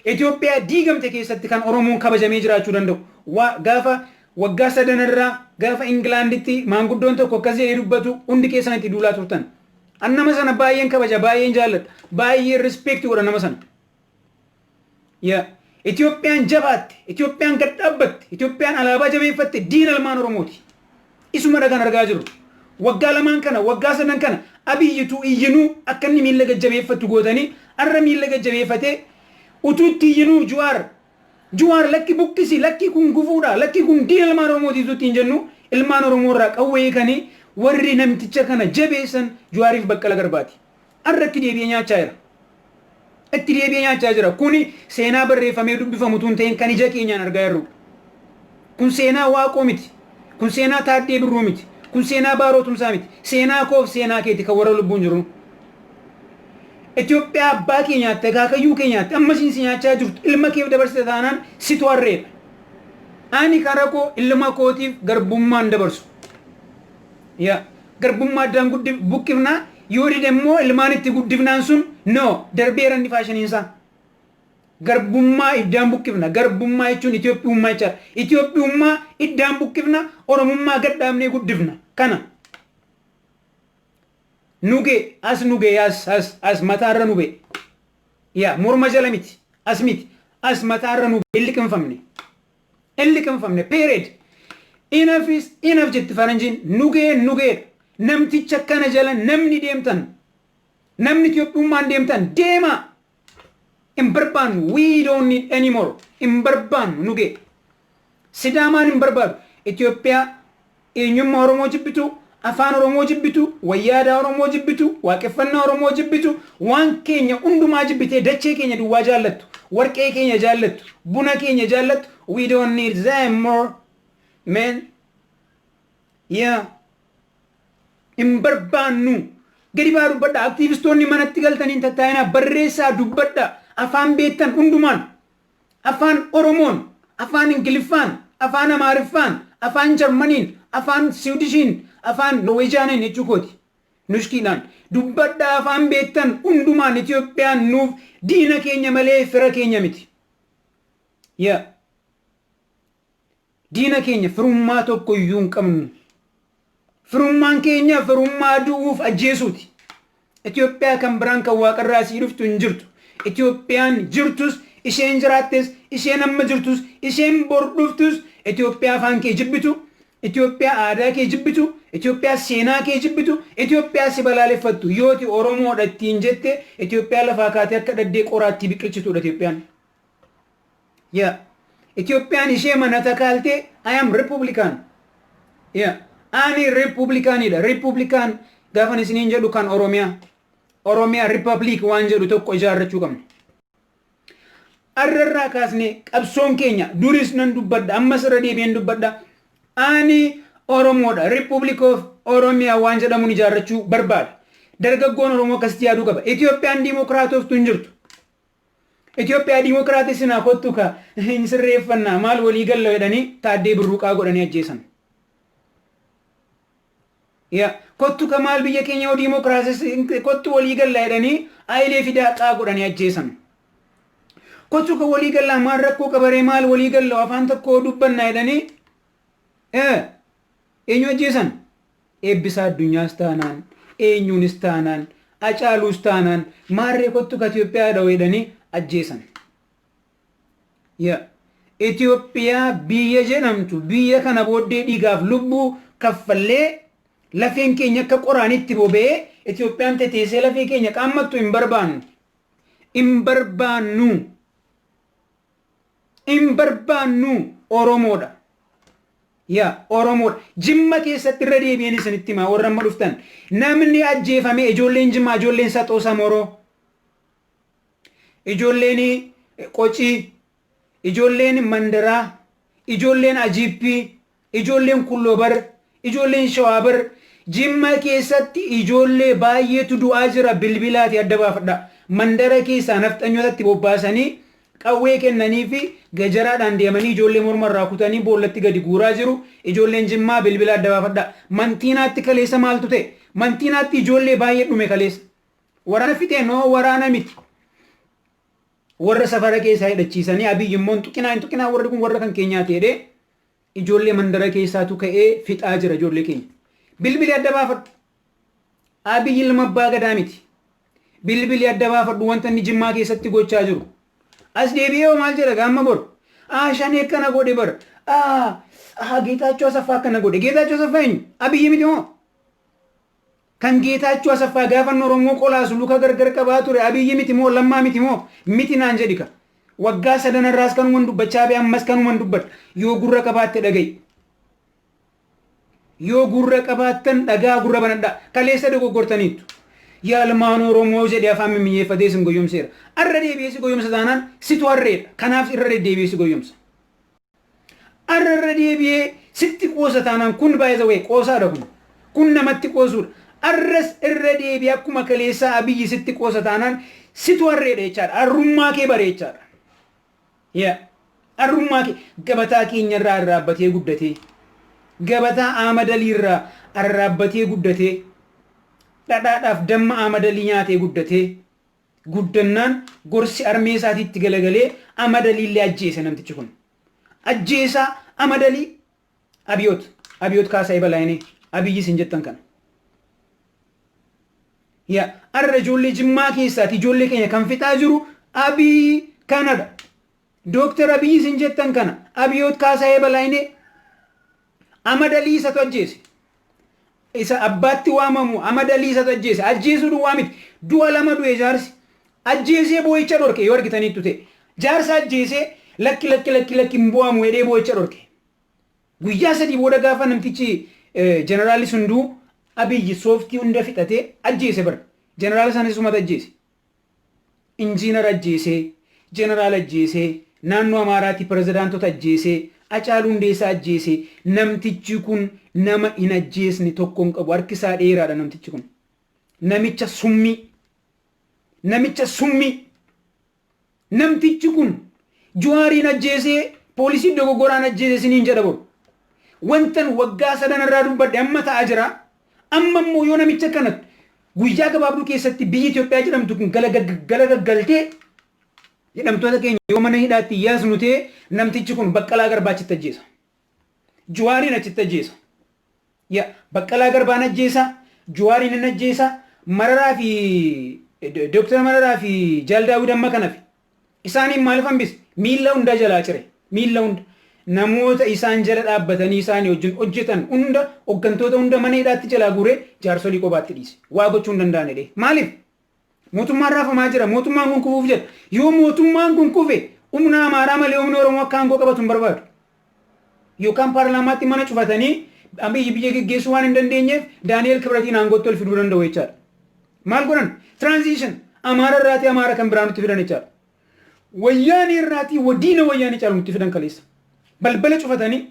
Itoophiyaa diigamte keessatti kan Oromoon kabajamee jiraachuu danda'u wa, gaafa waggaa sadan irra gaafa Ingilaanditti maanguddoon tokko akkas jedhee dubbatu hundi keessan itti duulaa turtan. An nama sana baay'een kabaja, baay'een jaalladha, baay'een respect godha nama sana. Ya, Itoophiyaan jabaatte, Itoophiyaan gad dhaabbatte, Itoophiyaan alaabaa jabeeffatte diina ilmaan Oromooti. Isumadha kan argaa jirru. Waggaa lamaan kana, waggaa sadan kana Abiyyitu iyyinuu akka inni miilla gad jabeeffattu gootanii arra miilla gad jabeeffatee utuu itti iyyinuu Juwaar Juwaar lakki buqqisi lakki kun gufuudha lakki kun diina ilmaan Oromooti utuu ittiin jennu ilmaan Oromoo irraa qawwee hiikanii warri namticha kana jabeessan Juwaariif Baqqala Garbaati. Har'a itti deebi'ee nyaachaa jira. Itti deebi'ee nyaachaa jira. Kuni seenaa barreeffamee dubbifamu utuu hin ta'in kan ija keenyaan argaa jirrudha. Kun seenaa Waaqoo miti. Kun seenaa Taaddee Birruu miti. Kun seenaa Baaroo Tumsaa miti. Seenaa koof seenaa keeti kan warra lubbuun jirruu. Itoophiyaa abbaa kee nyaatte, akaakayyuu kee nyaatte, amma siin si nyaachaa jirtu ilma keef dabarsite taanaan situ harreedha. Ani kara koo ilma kootiif garbummaan dabarsu. Yaa garbummaa addaan buqqifna, yoo dide immoo ilmaan itti guddifnaan sun no darbeera inni faashiniin isaa. Garbummaa iddaan buqqifna, garbummaa jechuun Itoophiyummaa jechaadha. Itoophiyummaa iddaan buqqifna, Oromummaa gad dhaabnee guddifna. Kana. Nuge as nuge as as as mataarra nube. Yaa morma jala miti, as miti, as mataarra nube hin liqimfamne. hin liqimfamne period enough is enough jetti faranjiin nugeen nugeedha namticha kana jala namni deemtan namni Itoophiyummaan deemtan deemaa hin barbaannu we don't need anymore hin barbaannu nugee sidaamaan hin barbaadu Itoophiyaa Eenyummaa Oromoo jibbitu, Afaan Oromoo jibbitu, wayyaa aadaa Oromoo jibbitu, waaqeffannaa Oromoo jibbitu, waan keenya hundumaa jibbitee dachee keenya duwwaa jaallattu, warqee keenya jaallattu, buna keenya jaallattu, we don't need them more man. Yeah. Hin barbaannu. Gadi ba'aa dubbadhaa. Aktiivistoonni manatti galtanii hin tattaa'inaa. Barreessaa dubbadhaa. Afaan beektan hundumaan. Afaan Oromoon, Afaan Ingiliffaan, Afaan Amaariffaan, Afaan Jarmaniin, Afaan Siwidishiin, Afaan Noweejiyaaniin jechuu kooti. Nushkiidhaan. Dubbadhaa afaan beektan hundumaan Itoophiyaan nuuf diina keenya malee fira keenya miti. Yeah. Diina keenya firummaa tokko iyyuu hin qabnu. Firummaan keenya firummaa du'uuf ajjeesuuti. Itoophiyaa kan biraan kan waaqarraa sii dhuftu hin jirtu. Itoophiyaan jirtus, isheen jiraattes, isheen amma jirtus, isheen bor dhuftus, Itoophiyaa afaan kee jibbitu, Itoophiyaa aadaa kee jibbitu, Itoophiyaa seenaa kee jibbitu, Itoophiyaa si balaaleffattu. Yooti Oromoodha ittiin jette, Itoophiyaa lafaa kaatee akka dhaddee qoraattii biqilchituudha Itoophiyaan. ya Itoophiyaan ishee mana takaaltee I am Republican ya ani Republicanidha Republican gaafan isiniin jedhu kan Oromiyaa Oromiyaa Republic waan jedhu tokko ijaarrachuu qabna arrarraa kaasnee qabsoon keenya duris nan dubbadha ammas irra deebi'een dubbadha ani Oromoodha Republic of Oromia waan jedhamuun ijaarrachuu barbaada dargaggoon Oromoo akkasitti yaaduu qaba Itoophiyaan diimokiraatoftu hin jirtu Itoophiyaa Diimokiraatii sinaa kottu ka hin sirreeffannaa maal walii galla jedhanii Taaddee Birruuqaa godhanii ajjeesan. Ya kottu ka maal biyya keenya yoo diimokiraasii kottu walii galla jedhanii Ayilee fi Daaqaa godhanii ajjeesan. Kottu ka walii gallaa maal rakkoo qabaree maal walii galla afaan tokko dubbanna jedhanii Eenyu ajjeesan? Eebbisaa Addunyaas taanaan, eenyuunis taanaan, Acaaluus taanaan, maarree kottu ka Itiyoophiyaa dhahu jedhanii ajjeesan. Yeah. Itiyoophiyaa biyya jedhamtu, biyya kana booddee dhiigaaf lubbuu kaffallee, lafeen keenya akka qoraanitti boba'ee, Itiyoophiyaan teteessee lafee keenya qaammattu hin barbaannu. Hin barbaannu. hin barbaannu oromoodha ya oromoodha jimma keessatti irra deebi'een isinitti himaa warra amma dhuftan namni ajjeefame ijoolleen jimmaa ijoolleen saxoo samoroo ijoolleen qocii ijoolleen mandaraa ijoolleen ajiippii Ijoolleen Kulloo bar, ijoolleen Shawaa bar, Jimma keessatti ijoollee baay'eetu du'aa jira bilbilaatii adda baafadhaa. Mandara keessaa nafxanyootatti bobbaasanii qawwee kennaniifi gajaraadhaan deemanii ijoollee morma irraa kutanii boollatti gadi guuraa jiru. Ijoolleen Jimmaa bilbila adda baafadhaa. Mantiinaatti kaleessa maaltu ta'e? Mantiinaatti ijoollee baay'ee dhume kaleessa. Waraana fixee noo waraana miti. Warra safara keessaa hidhachiisanii Abiyyi immoo hin tuqinaa hin tuqinaa warri kun warra kan keenyaa ta'edhee. Ijoollee mandara keessaatu ka'ee fixaa jira ijoollee keenya. Bilbili adda baafadhu. Abiy ilma abbaa gadaa miti. Bilbili adda baafadhu wanta inni jimmaa keessatti gochaa jiru. As deebi'ee hoo maal jedha gaamma bor? Aa shanee akkana godhe bar. Aa aa Geetaachoo Asaffaa akkana godhe. Geetaachoo Asaffaa eenyu? Abiy miti moo? Kan Geetaachoo Asaffaa gaafan Oromoo qolaasu luka gargar qabaa ture Abiyyi miti moo Lammaa miti moo? Miti naan jedhi ka. Waggaa sadan irraas kanuman dubbachaa bee ammas kanuman dubbadha. Yoo gurra qabaatte dhaga'i. Yoo gurra qabaattan dhaga'aa gurra banadhaa. Kaleessa dogoggortaniittu. Yalmaan Oromoo jedhee afaan mimmiyyeeffatee isin goyyomseera. Arra deebi'ee si goyyomsa taanaan situ harreedha. Kanaaf irra deddeebi'ee si goyyomsa. Arra irra deebi'ee sitti qoosa taanaan kun by the way qoosaadha kun. Kun namatti qoosuudha. Arras irra deebi'ee akkuma kaleessaa Abiyyi sitti qoosa taanaan situ harreedha jechaadha. Arrummaa kee bare jechaadha. Yeah. Arrummaa kee gabataa keenya irraa arraabbatee guddatee gabataa aamadalii irraa arraabbatee guddatee dhadhaadhaaf damma aamadalii nyaatee guddatee guddannaan gorsi armee isaatiitti galagalee Amadaliillee ajjeese namtichi kun. Ajjeesaa Amadalii Abiyoot Abiyoot Kaasaayee Balaayinee Abiyyi isin jettan kana. Ya arra ijoollee jimmaa keessaati ijoollee keenya kan fixaa jiru Abiy kanadha. Dooktar Abiy isin jettan kana Abiyoot Kaasayee Balaayinee Amad Alii isatu ajjeese. Isa abbaatti waamamu Amad Alii isatu ajjeese. Ajjeesuu duwwaa miti. Du'a lama du'e jaarsi. Ajjeesee boo'icha dhorke yoo argitaniittu ta'e. Jaarsa ajjeesee lakki lakki lakki lakki hin boo'amu jedhee boo'icha dhorke. Guyyaa sadii booda gaafa namtichi jeneraalli sun du'u Abiy sooftii hunda fixatee ajjeese bar. Jeneraala sanis isumatu ajjeese. Injiinar ajjeesee, Jeneraal ajjeesee, Naannoo Amaaraatii Pirezidaantota ajjeesee, Acaaluu Hundeessaa ajjeesee, namtichi kun nama hin ajjeesne tokko hin qabu. Harki isaa dheeraadha namtichi kun. Namicha summii! Namicha summii! Namtichi kun Juhaariin ajjeesee poolisii dogoggoraan ajjeese isiniin jedha boru. Wantan waggaa sadan irraa dubbadhe amma ta'aa jira. Amma immoo yoo namicha kana guyyaa gabaabduu keessatti biyyi Itoophiyaa jedhamtu kun galagaggaltee hidhamtoota keenya yoo mana hidhaatti yaasnu ta'e namtichi kun Baqqalaa Garbaachitti ajjeesa. Juwaariin achitti ajjeesa. Ya Baqqalaa Garbaan ajjeesa, Juwaariin hin ajjeesa, Mararaa fi Dooktar Mararaa fi Jaal Daawwid amma kanafi. Isaaniin maaliif hambise? Miilla hundaa jalaa cire. Miilla hunda. Namoota isaan jala dhaabbatanii isaanii wajjin hojjetan hunda, hoggantoota hunda mana hidhaatti jalaa guuree jaarsolii qobaatti dhiise. Waa gochuu hin danda'an jedhee. Maaliif? Mootummaan raafamaa jira. Mootummaan kun kufuuf jedha. Yoo mootummaan kun kufe humna Amaaraa malee humni Oromoo akka aangoo qabatu hin barbaadu. Yookaan paarlaamaatti mana cufatanii Abiyyi biyya geggeessuu waan hin dandeenyeef Daani'eel Kibratiin aangootti ol fiduu danda'u jechaadha. Maal godhan? Transition Amaara irraatii Amaara kan biraa nutti fidan jechaadha. Wayyaanee irraatii wadiina wayyaanee caalu nutti fidan kaleessa. Balbala cufatanii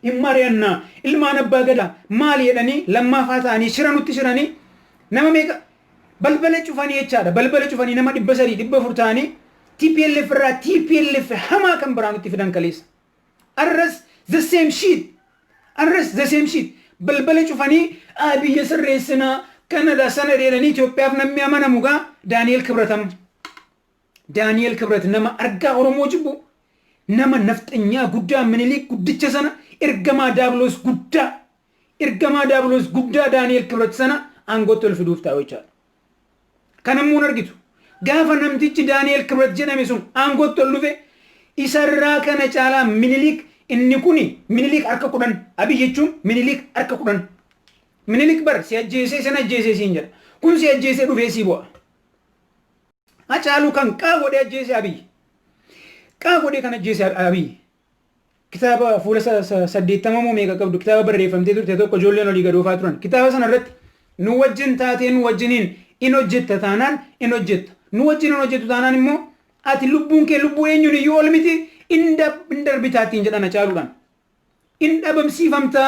hin mari'anna ilmaan abbaa gadaa maal jedhanii lammaafaa ta'anii shira nutti shiranii nama meeqa balbala cufanii jechaadha balbala cufanii nama dhibba sadii dhibba afur ta'anii TPLF irraa TPLF hamaa kan biraa nutti fidan kaleessa arras the same shit arras the same shit balbala cufanii aa biyya sirreessinaa kanadha sana jedhanii Itoophiyaaf namni amanamu gaa Daani'el Kibratam Daani'eel Kibrat nama argaa Oromoo jibbu, nama nafxanyaa guddaa Miniliik guddicha sana ergamaa Daabiloos guddaa, ergamaa Daabiloos guddaa Daani'eel Kibrat sana aangootti ol fiduuf taa'u jechaadha. Kana immoo hin argitu. Gaafa namtichi Daani'eel Kibrat jedhame sun aangootti ol dhufe isarraa kana caalaa Miniliik inni kuni Miniliik harka kudhan Abiy jechuun Miniliik harka kudhan. Miniliik bar si ajjeesee san ajjeesee siin jedha. Kun si ajjeesee dhufee sii bu'a. Hacaaluu kan qaa godhee ajjeese Abiy. Qaa godhee kan ajjeese Abiy. Kitaaba fuula saddeettama moo meeqa qabdu kitaaba barreeffamtee turte tokko ijoolleen olii gadoofaa turan. Kitaaba sana irratti nu wajjin taatee nu wajjiniin in hojjetta taanaan in hojjetta. Nu wajjin hin hojjettu taanaan immoo ati lubbuun kee lubbuu eenyuun iyyuu ol miti in darbitaattiin jedhan Hacaaluudhaan. in dhabamsiifamta.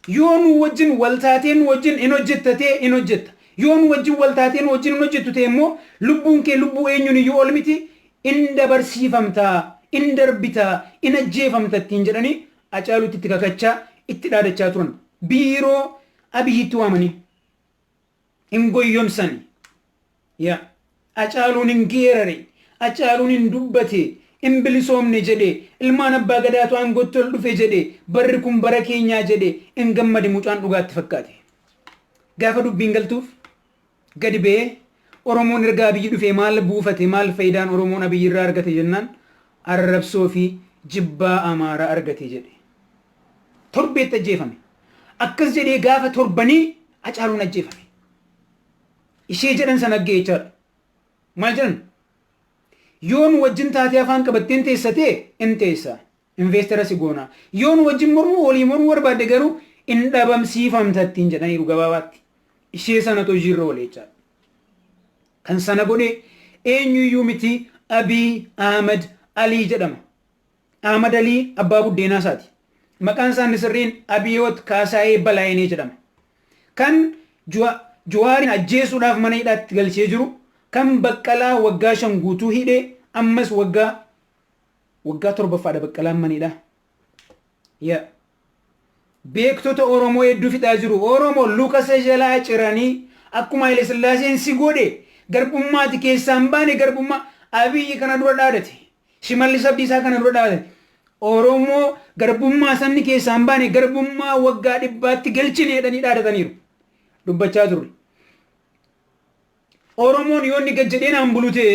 Yoo nuu wajjin wal taatee nuu wajjin in hojjetta ta'e in hojjetta. Yoo nuu wajjin wal taatee nuu wajjin hin hojjettu ta'e immoo lubbuun kee lubbuu eenyuun iyyuu ol miti in dabarsiifamta, in darbita, in ajjeefamta ittiin jedhanii Acaaluutti itti kakachaa, itti dhaadachaa turan. Biiroo Abiyiitti waamanii. hin goyyomsani yaa Acaaluun hin geerare Acaaluun hin dubbate hin bilisoomne jedhe ilmaan abbaa gadaatu aangootti ol dhufe jedhe barri kun bara keenyaa jedhe hin gammade mucaan dhugaatti fakkaate gaafa dubbiin galtuuf gadi ba'ee Oromoon erga Abiyyi dhufee maal buufate maal fayidaan Oromoon Abiyyi irraa argate jennaan arrabsoo fi jibbaa Amaaraa argate jedhe. Torbeetti ajjeefame. Akkas jedhee gaafa torbanii Hacaaluun ajjeefame. Ishee jedhan sana aggee jechaadha. Maal jedhan? Yoo nu wajjin taatee afaan qabatteen teessa ta'e in teessa. Investara si goona. Yoo nu wajjin mormuu olii mormuu barbaadde garuu in dhabamsiifamta ittiin jedhaniiru gabaabaatti. Ishee sanatu hojiirra oole jechaadha. Kan sana godhe eenyuyyuu miti Abiy Ahmed Alii jedhama. Ahmad Alii abbaa buddeenaa isaati. Maqaan isaa inni sirriin Abiyoot Kaasaayee Balaayinee jedhama. Kan Juwaarin ajjeesuudhaaf mana hidhaatti galchee jiru, kan Baqqalaa waggaa shan guutuu hidhe, ammas waggaa waggaa torbaffaadha Baqqalaan mana hidhaa. Yaa beektota Oromoo hedduu fixaa jiru. Oromoo luka isa jalaa ciranii akkuma Haile Sillaaseen si godhe garbummaati keessaa hin baane garbummaa Abiyyi kana dura dhaadate. Shimallis Abdiisaa kana dura dhaabate Oromoo garbummaa sabni keessaa hin baane garbummaa waggaa dhibbaatti galchine jedhanii dhaadataniiru. Dubbachaa turre. Oromoon yoo inni gad jedhee naan bulu ta'e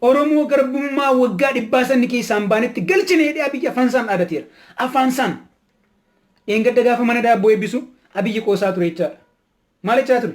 Oromoo garbummaa waggaa dhibbaa sabni keessaa hin baanetti galchine jedhee Abiyyi afaansaan dhaadateera. Afaansaan. Dheengadda gaafa mana daabboo eebbisu Abiyyi qoosaa ture jechaadha. Maal jechaa ture?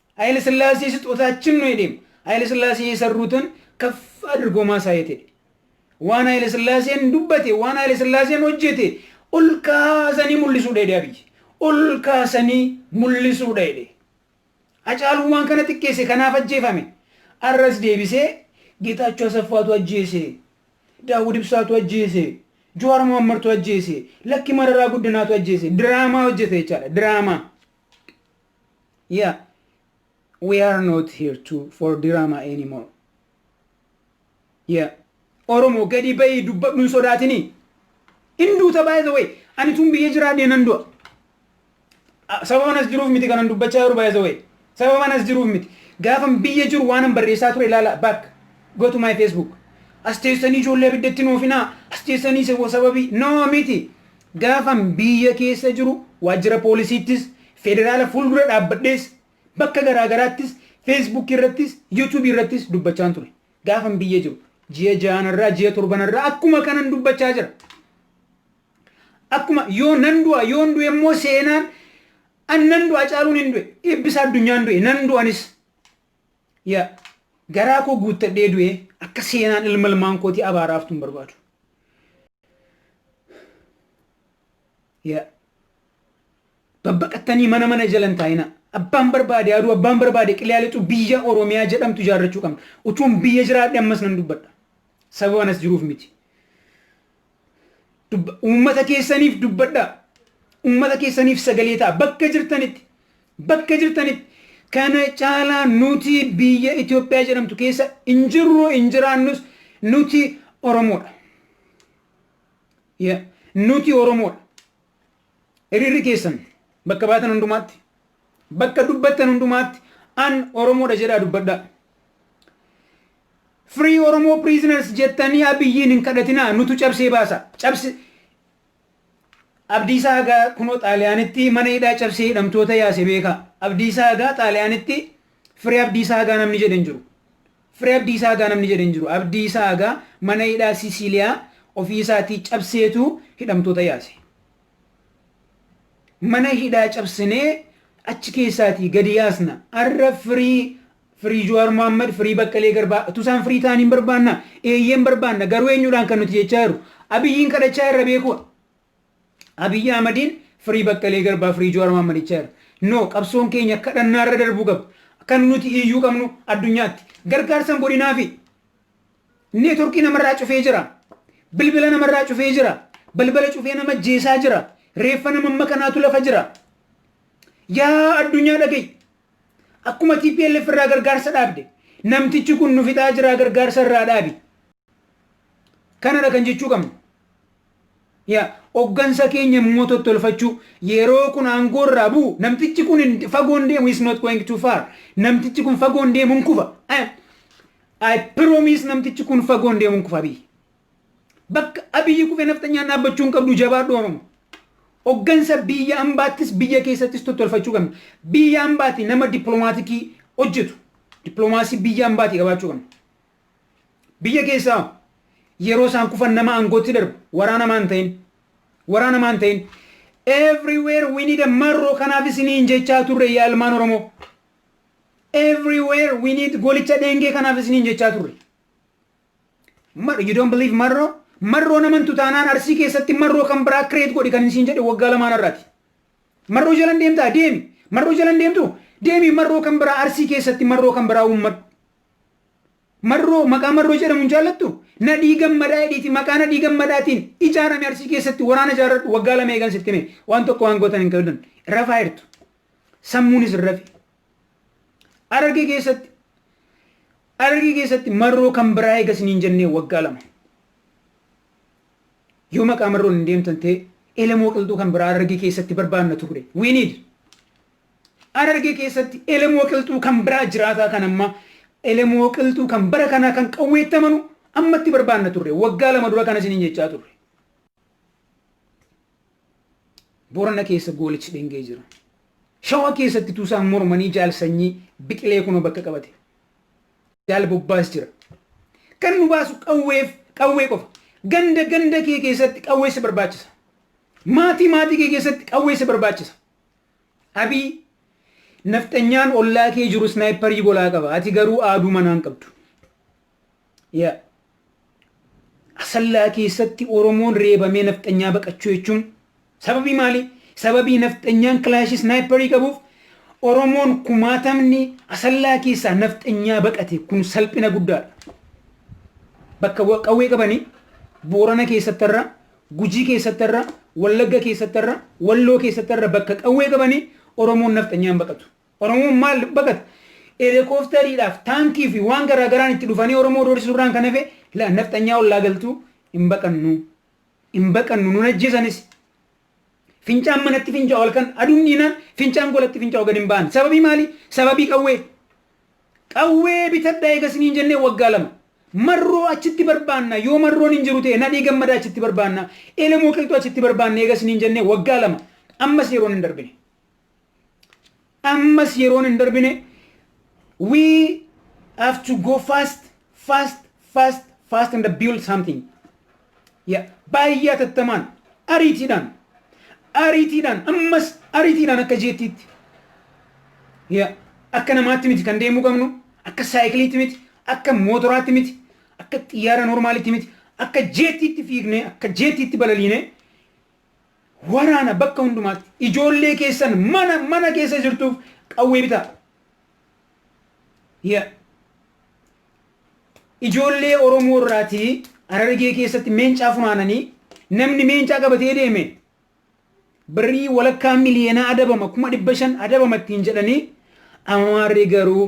Hayile sillaasee sixootaachin nu hedheem Hayile sillaasee yeserruutan kaff adrgoo maasaayet hedhe waan Hayile sillaaseen dubbate waan Hayile sillaaseen hojjete ol kaasanii mullisuudha hedhe Abiy ol kaasanii mullisuudha hedhe Hacaaluu waan kana xiqqeesse kanaaf ajjeefame arras deebisee Geetaachoo Asaffaatu ajjeese Daawud Ibsaatu ajjeese Jawaar Mohammartu ajjeese lakki Mararaa Guddinaatu ajjeese diraamaa hojjete jechaadha diraamaa Yeah we are not here to for drama anymore. Yeah Oromo gadi bayi dubbadhu hin sodaatini. Hin duuta by the way ani tun biyya jiraadhee nan du'a. Ah, Sababan as jiruuf miti kanan dubbachaa jiru by the way. Sababan as jiruuf miti. Gaafan biyya jiru waanan barreessaa ture ilaala back go to my Facebook. As teessanii ijoollee abiddatti hin oofinaa. As teessanii sabo sababii no miti. Gaafan biyya keessa jiru waajjira poolisiittis, federaala fuuldura dhaabbadhees, bakka garaa garaattis, Facebook irrattis, YouTube irrattis dubbachaan ture. Gaafan biyya jiru ji'a jahanarraa, ji'a torbanarraa akkuma kanan dubbachaa jira. Akkuma yoo nan du'a, yoon du'e immoo seenaan an nan du'a Hacaaluun hin du'e, Eebbisaa Addunyaan du'e, nan du'anis. Yaa garaa koo guuttadhee du'ee akka seenaan ilma ilmaan kootii abaaraa haftu hin barbaadu. Yaa babbaqattanii mana mana jala hin taa'inaa. Abbaan barbaade aduu abbaan barbaade qilaa lixu biyya Oromiyaa jedhamtu ijaarrachuu qabna. Utuun biyya jiraadhe ammas nan dubbadha. Sababa anas jiruuf miti. Dubba- Uummata keessaniif dubbadhaa. Uummata keessaniif sagalee ta'a. Bakka jirtanitti. Bakka jirtanitti. Kana caalaa nuti biyya Itoophiyaa jedhamtu keessa hin jirru hin jiraannus nuti Oromoodha. Yeah. Nuti Oromoodha. Hiriirri keessan bakka baatan hundumaatti. Bakka dubbattan hundumaatti an Oromoodha jedhaa dubbadhaa. Free Oromo prisoners jettanii Abiyyiin hin kadhatinaa nutu cabsee baasa. Cabse Abdiisaa hagaa kunoo Xaaliyaanitti mana hidhaa cabsee hidhamtoota yaase beekaa. Abdiisaa hagaa Xaaliyaanitti Free Abdiisaa hagaa namni jedhe hin jiru. Free Abdiisaa hagaa namni jedhe hin jiru. Abdiisaa hagaa mana hidhaa Sisiiliyaa ofii isaatii cabseetu hidhamtoota yaase. Mana hidhaa cabsinee achi keessaatii gadi yaasna. Arra Free Free Juwaar Mohammed, Free Baqqalee Garbaa. Utuu isaan free ta'anii hin barbaannaa? Eeyyee hin barbaanna. Garuu eenyuudhaan kan nuti jechaa jirru? Abiyyiin kadhachaa irra beekuu? Abiyyi Ahmadiin Free Baqqalee Garbaa, Free Juwaar Mohammed jechaa jirra. No, qabsoon keenya kadhannaa irra darbuu qaba. Kan nuti iyyuu qabnu addunyaatti. Gargaarsan godhinaafi. Neetworkii namarraa cufee jira. Bilbila namarraa cufee jira. Balbala cufee nama jeesaa jira. Reeffa nama makkanaatu lafa jira. Yaa addunyaa dhaga'i. Akkuma tplf irraa gargaarsa dhaabde namtichi kun nu fixaa jiraa gargaarsa irraa dhaabi. Kanadha kan jechuu qabnu. Yaa hoggansa keenya immoo tottolfachuu yeroo kun aangoo irraa bu'u namtichi kun hin- fagoo hin deemu is not going too far namtichi kun fagoo hin deemu hin kufa. I- I promise namtichi kun fagoo hin deemu hin kufa biyyi. Bakka Abiyyi kufe nafxanyaan dhaabbachuu hin qabdu jabaadhu Oromo. Oggansa biyya ambaattis biyya keessattis tottolfachuu qabna. Biyya ambaati nama dippilomaatikii hojjetu dippiloomaasii biyya ambaati qabaachuu qabna. Biyya keessaa hoo? yeroo isaan kufan nama aangootti darbu waraana maan ta'in waraana maan ta'in everywhere we need a marroo kanaaf isiniin jechaa turre yaa ilmaan Oromoo. Everywhere we need golicha dheengee kanaaf isiniin jechaa turre. Mar- You don't believe marroo? Marroo naman tutaanaan arsii keessatti marroo kan biraa kireet godhi kan isiin jedhe waggaa lamaan irraati. Marroo jalan deemtaa deemi. Marroo jalan deemtu deemi marroo kan biraa arsii keessatti marroo kan biraa uummadhu. Marroo maqaa marroo jedhamu hin jaallattu? Nadhii gammadaa jedhiiti maqaa nadhii gammadaatiin ijaarame arsii keessatti waraana ijaarradhu waggaa lama eegan sitti hime waan tokko waan gootan hin qabdan rafaa jirtu. Sammuunis hin rafe. Arargee keessatti Harargee keessatti marroo kan biraa eega isiniin jennee waggaa lama. Yoo maqaa marroon hin deemtan ta'e elemoo qilxuu kan biraa Harargee keessatti barbaanna turre. We need. Harargee keessatti elemoo qilxuu kan biraa jiraataa kan ammaa elemoo qilxuu kan bara kanaa kan qawweettamanu ammatti barbaanna turre. Waggaa lama dura kan isiniin jechaa turre. Boorana keessa goolichi dhengee jira. Shawaa keessatti tuusaan mormanii jaal sanyii biqilee kunoo bakka qabate. Jaal bobbaas jira. Kan nu baasu qawweef qawwee qofa. Ganda ganda kee keessatti qawwee si barbaachisa. Maatii maatii kee keessatti qawwee si barbaachisa. Abii nafxanyaan ollaa kee jiru snaayipparii golaa qaba. Ati garuu aaduu manaan qabdu. Yaa Asallaa keessatti Oromoon reebamee nafxanyaa baqachuu jechuun sababii maalii? Sababii nafxanyaan kilaashii snaayipparii qabuuf Oromoon kumaatamni Asallaa keessaa nafxanyaa baqate kun salphina guddaadha. Bakka wa- qawwee qabanii Boorana keessattarra, Gujii keessattarra, Wallagga keessattarra, Walloo keessattarra bakka qawwee qabanii Oromoon nafxanyaan baqatu. Oromoon maal baqata? Elekoofteriidhaaf, taankii fi waan garaa garaan itti dhufanii Oromoo doorsisuu irraan kan hafe la nafxanyaa ollaa galtuu hin baqannu. Hin baqannu nun ajjeesanis. Fincaan manatti fincaa'u halkan aduun dhiinaan fincaan golatti fincaa'u gad hin ba'an. Sababii maali? Sababii qawwee. Qawwee bitadhaa eega isiniin jennee waggaa lama. Marroo achitti barbaanna yoo marroon hin jiru ta'e nadhii gammadaa achitti barbaanna elemoo qilxuu achitti barbaanna eega isiniin jennee waggaa lama ammas yeroon hin darbine. Ammas yeroon hin darbine we have to go fast fast fast fast and build something. Yeah. Baay'ee atattamaan ariitiidhaan ariitiidhaan ammas ariitiidhaan akka jeettiitti yeah. akka namaatti miti kan deemuu qabnu akka saayikiliitti miti akka mootoraatti miti akka xiyyaara normaalitti miti akka jeettiitti fiignee akka jeettiitti balaliinee Waraana bakka hundumaatti ijoollee keessan mana mana keessa jirtuuf qawwee bitaa. Yeah. Ijoollee Oromoo irraatii Harargee keessatti meencaa funaananii namni meencaa qabatee deeme birrii walakkaa miliyoonaa adabama kuma dhibba shan adabama ittiin jedhanii amaarri garuu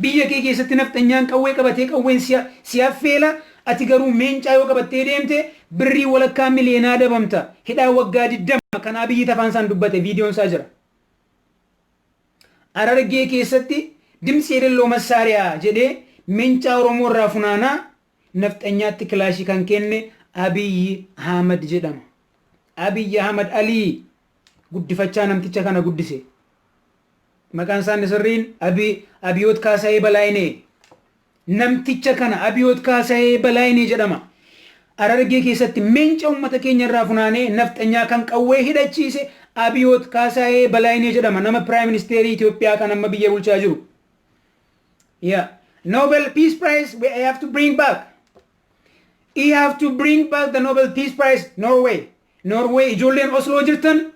Biyya kee keessatti nafxanyaan qawwee qabatee qawween si affeela, ati garuu meencaa yoo qabattee deemte birrii walakkaa miliyeenaa adabamta, hidhaa waggaa 20 kan Abiyyit afaan isaan dubbate viidiyoon isaa jira. Harargee keessatti Dimtsi Yelelloo Massaariyaa jedhee mencaa Oromoo irraa funaanaa nafxanyaatti kilaashii kan kenne Abiyyi Ahmad jedhama. Abiyyi Ahmad Alii guddifachaa namticha kana guddise. Maqaan isaa inni sirriin Abi- Abiyoot Kaasayee Balaayinee. Namticha kana Abiyoot Kaasayee Balaayinee jedhama. Arargee keessatti meenca uummata keenya irraa funaanee nafxanyaa kan qawwee hidhachiise Abiyoot Kaasayee Balaayinee jedhama. Nama Piraayim Ministeerii Itoophiyaa kan amma biyya bulchaa jiru. Yeah. Nobel Peace Prize, we have to bring back. We have to bring back the Nobel Peace Prize, Norway. Norway, ijoolleen Oslo jirtan,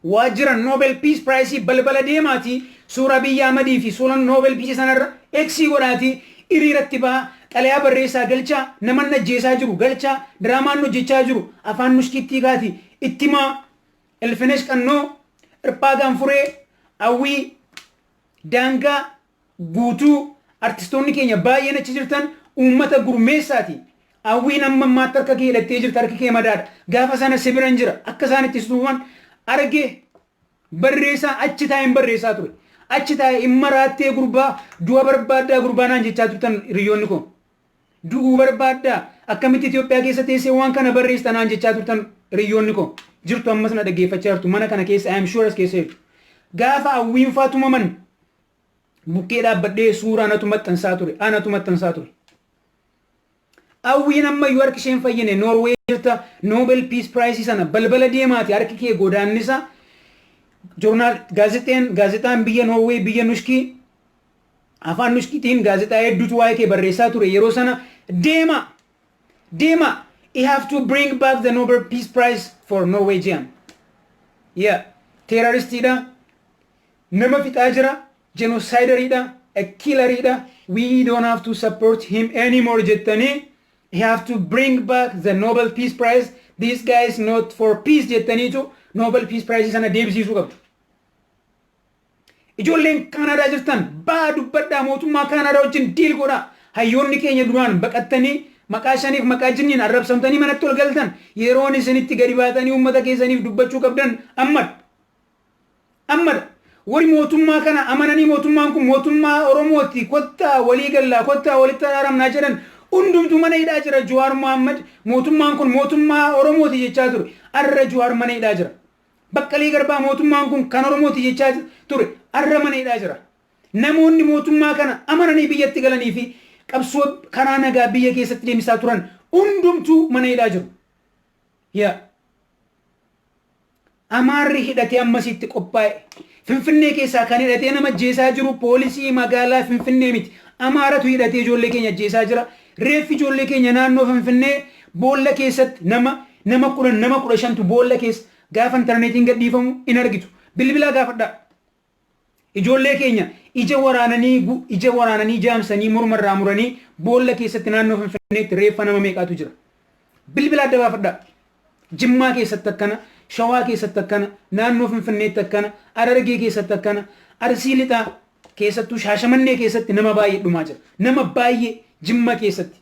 waajjira Nobel Peace Prize balbala deemaatii suuraa biyya Ahmadii fi suuraa Nobel Peace sanarra eksii godhaatii hiriiratti ba'aa xalayaa barreessaa galchaa naman ajjeesaa jiru galchaa diraamaan hojjechaa jiru afaan muskiittii kaati ittimaa ilfinesh qannoo irphaa gaanfuree awwii Daangaa Guutuu Artistoonni keenya baay'een achi jirtan uummata gurmeessaati. Awwiin amma ammaatti harka kee hidhattee jirta harki kee madaadha. Gaafa sana si biran jira. Akka isaan itti si tuman arge barreessaa achi taa'een barreessaa ture. Achi taa'e hin maraattee gurbaa du'a barbaaddaa gurbaa naan jechaa turtan hiriyyoonni koo. Du'uu barbaaddaa? Akkamitti Itoophiyaa keessa teessee waan kana barreessita naan jechaa turtan hiriyyoonni koo. Jirtu ammas na dhaggeeffachaa jirtu mana kana keessa I am sure as keessa jirtu. Gaafa hawwiin faa tumaman bukkee dhaabbadhee suuraa anatu maxxansaa ture. Anatu maxxansaa ture. Hawwiin ammayyuu harki isheen fayyine Noorwee jirta Nobel Peace Prize sana balbala deemaati harki kee godaannisa joornaal gaazexeen gaazexaan biyya Noorwee biyya Nushkii Afaan Nushkitiin gaazexaa hedduutu waa'ee kee barreessaa ture yeroo sana deemaa! Deemaa! I have to bring back the Nobel Peace Prize for Norwegian. Yeah. Teeraristiidha. Nama fixaa jira. Jenosaayidariidha. A killeriidha. We don't have to support him anymore jettanii he have to bring back the Nobel Peace Prize. This guy is not for peace jettaniitu Nobel Peace Prize sana deebisiisuu qabdu. Ijoolleen Kaanaadaa jirtan ba'aa dubbadhaa mootummaa Kaanaadaa wajjin diil godhaa. Hayyoonni keenya duraan baqattanii maqaa shaniif maqaa jinniin arrabsamtanii manatti ol galtan yeroon isin itti gadi baatanii uummata keessaniif dubbachuu qabdan ammadha. Ammadha. Warri mootummaa kana amananii mootummaan kun mootummaa Oromooti kottaa walii gallaa kottaa walitti araaramnaa jedhan hundumtuu mana hidhaa jira Juwaar Mohaammed mootummaan kun mootummaa Oromooti jechaa ture arra Juwaar mana hidhaa jira. Baqqalee Garbaa mootummaan kun kan Oromooti jechaa ture arra mana hidhaa jira. Namoonni mootummaa kana amananii biyyatti galanii fi qabsoo karaa nagaa biyya keessatti deemsisaa turan hundumtuu mana hidhaa jiru. Yaa Amaarri hidhatee ammasiitti qophaa'e. Finfinnee keessaa kan hidhatee nama ajjeesaa jiru poolisii magaalaa Finfinnee miti. Amaaratu hidhatee ijoollee keenya ajjeesaa jira. Reeffi ijoollee keenya naannoo Finfinnee boolla keessatti nama nama 10 nama 15tu boolla keessa gaafa intarneetiin gadhiifamu in argitu. Bilbilaa gaafadhaa. Ijoollee keenya ija waraananii gu- ija waraananii jaamsanii morma irraa muranii boolla keessatti naannoo Finfinneetti reeffa nama meeqaatu jira. Bilbilaa adda baafadhaa. Jimmaa keessatti akkana, Shawaa keessatti akkana, naannoo Finfinneetti akkana, Harargee keessatti akkana, Arsii Lixaa keessattuu Shaashamannee keessatti nama baay'ee dhumaa jira. Nama baay'ee Jimma keessatti.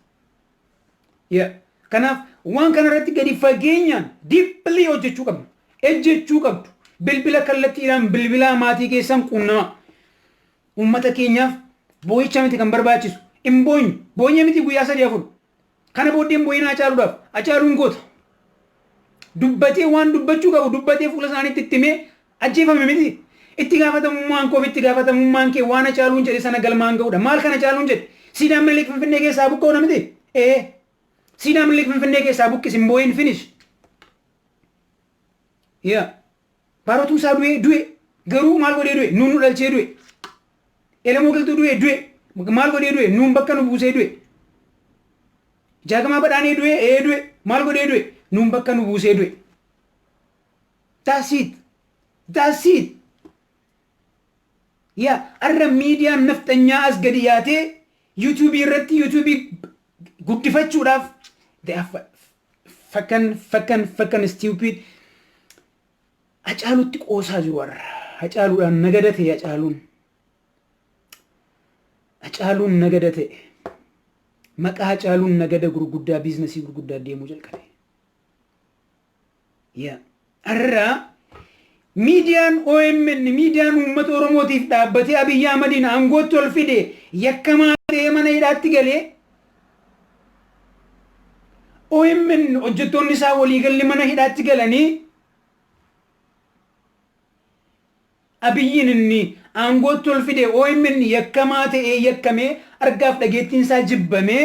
Yeah. Kanaaf waan kana irratti gadi fageenyaan deeply hojjechuu qabna. Ejjechuu qabdu. Bilbila kallattiidhaan bilbilaa maatii keessan quunnamaa. Uummata keenyaaf boo'icha miti kan barbaachisu. Hin boonyu. Boonyee miti guyyaa sadii afur. Kana booddee hin bo'inaa Hacaaluudhaaf. Hacaaluun goota. Dubbatee waan dubbachuu qabu dubbatee fuula isaaniitti itti himee ajjeefame miti. Itti gaafatamummaan koo fi itti gaafatamummaan kee waan Hacaaluun jedhe sana galmaan ga'uudha. Maal kan Hacaaluun jedhe? Siidaa Minilik Finfinnee keessaa haa buqqa'uudha miti? Ee. Siidaa Minilik Finfinnee keessaa buqqisi hin bo'in finish. Yaa baarotuu isaa du'ee du'e garuu maal godhee du'e nuun nu dhalchee du'e elemoo galtuu du'e du'e maal godhee du'e nuun bakka nu buusee du'e jaagamaa badhaanee du'e ee du'e maal godhee du'e nuun bakka nu buusee du'e. That's it. That's it. Yaa arra miidiyaan nafxanyaa as gadi yaatee yuutuubii irratti yuutuubii guddifachuudhaaf they are Fakan fakan fakan stupid Hacaalutti qoosaa jiru warra. Hacaaluudhaan nagada ta'e Hacaaluun. Hacaaluun nagada ta'e. Maqaa Hacaaluun nagada gurguddaa biiznasii gurguddaa deemuu jalqabe. Yaa Har'a miidiyaan omn miidiyaan uummata Oromootiif dhaabbatee Abiy Ahmadiin aangootti ol fide yakkamaa ta'ee mana hidhaatti galee omn hojjettoonni isaa waliigalli mana hidhaatti galanii Abiyyiin inni aangootti ol fide omn yakkamaa ta'ee yakkamee argaaf dhageettiin isaa jibbamee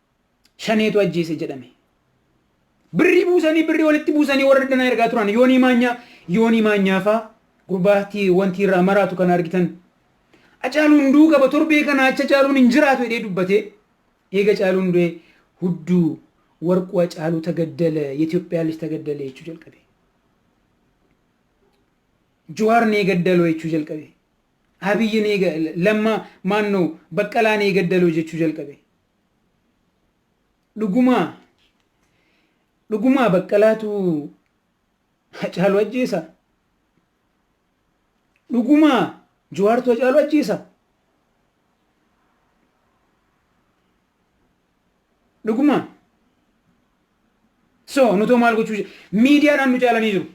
shaneetu ajjeese jedhame. Birrii buusanii birrii walitti buusanii warra danaa ergaa turan yoonii maanyaa yoonii maanyaafaa gurbaatti wanti irraa maraatu kan argitan. Acaaluun du'uu qaba torbee kana acha caaluun hin jiraatu jedhee dubbatee eega caaluun du'ee hudduu warquu acaaluu tagaddala Itoophiyaa lij tagaddala jechuu jalqabe. Jawaar nee gaddaloo jechuu jalqabe. Abiyyi nee lamma maannoo baqqalaa nee gaddaloo jechuu jalqabe. Dhugumaa dhugumaa baqqalaatu hacaalu ajjeesa dhugumaa jawaartu hacaalu ajjeesa dhugumaa so nutoo maal gochuu je- miidiyaadhaan nu caalanii jiru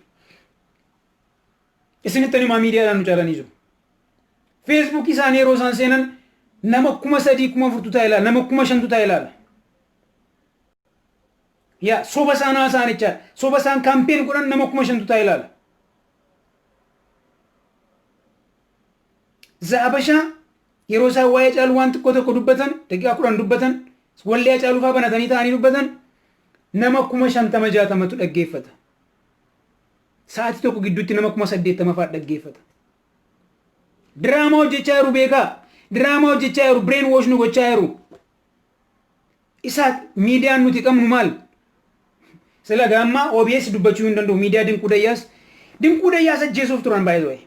isinitti animaa miidiyaadhaan nu caalanii jiru Feesbuukii isaanii yeroo isaan seenan nama kuma sadii kuma afurtu taa'e ilaala. Nama kuma shantu taa'e ilaala. Yaa soba isaan haasa'an jechaadha. Soba isaan kaampeen godhan nama kuma shantu taa'e ilaala. Zaabashaa yeroo isaan waa'ee caalu waan xiqqoo tokko dubbatan daqiiqaa kudhan dubbatan wallee hacaaluu fa'aa banatanii taa'anii dubbatan nama kuma shantama jaatamatu dhaggeeffata. Sa'aatii tokko gidduutti nama kuma saddeettama fa'aa dhaggeeffata. Diraamaa hojjechaa jiru beekaa. Diraamaa hojjechaa jiru brain wash nu gochaa jiru. Isaa miidiyaan nuti qabnu maal? Sila gaammaa OBS dubbachuu hin danda'u miidiyaa dinquu dayyaas. Dinquu dayyaas ajjeesuuf turan baay'ee ta'e.